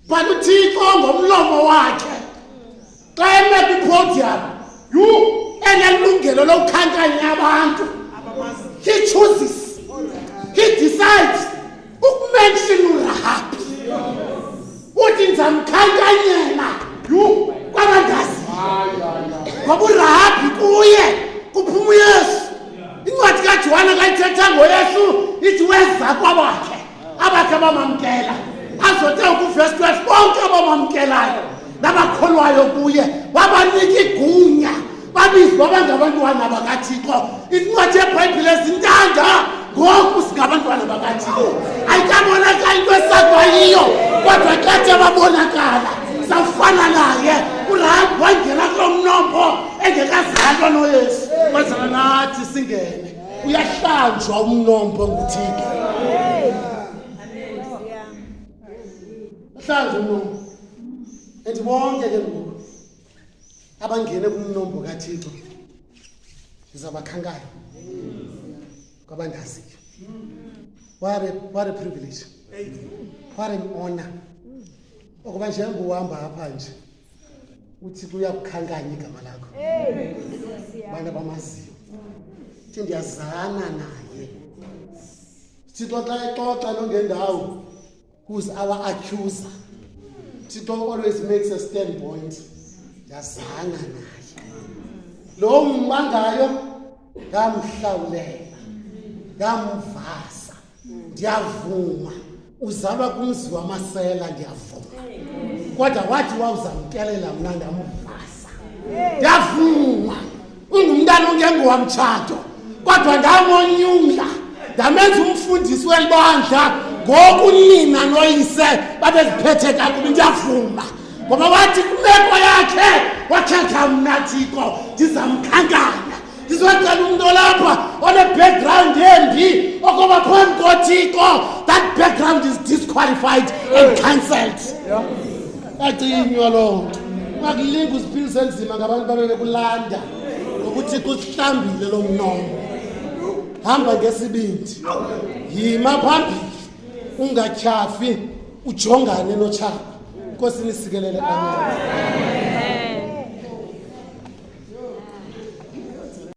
But uThixo ngomlomo wakhe xa eme kwi-podium yhu enelungelo lokukhankanya abantu he chooses he decides ukumention urahabi uthi ndizamkhankanyela kwabandazi ngoba urahabhi kuye kuphuma uyesu incwadi kajohane kayithetha ngoyesu ithi weza kwabakhe abakhe abamamkela azote ukuvesi 12 bonke abamamkelayo nabakholwayo kuye wabanika igunya babizwa bangabantwana bakathixo incwadi yebhayibhile zintanda ngoku singabantwana bakathixo ayikabonakala into esakwayiyo kodwa xathe babonakala safana naye urayi wangena kulo mnombo engekazalwa noyesu kwenzela nathi singene uyahlanjwa umnombo nguthixo hlanjwa umnombo and bonke ke ngoku abangene kumnombo kathixo ndizabakhankanya kwabandaziyo what a, what a privilege what an honor okuba njengoba uhamba apha nje uthi kuyakukhankanya igama lakho abantu abamaziyo thi ndiyazana naye thixo xa exoxa nongendawo who's our accuser thixo always makes a stand point ndiyazanga naye lo mmangayo ndamhlawulela ndamvasa ndiyavuma uzalwa kumzi wamasela ndiyavuma kodwa wathi wawuzamkelela mna ndamvasa ndiyavuma ungumntana ongengowa mtshato kodwa ndamonyula ndamenza umfundisi weli bandla ngoku nina noyise babeziphethe kakubi ndiyavuma ngoba wathi kwimeko yakhe wakhetha mna thixo ndizamkhankanya ndizocela umntu olapha one-background embi okoba phambi kothixo that background is disqualified and cancelled yeah. bacinywa loo nto ungakulinga uziphilise nzima ngabantu babe bekulanda ngokuthi kusihlambile lo mnomo hamba ngesibindi yima phambili ungatyhafi ujongane notshaba nkosi nisikelele amen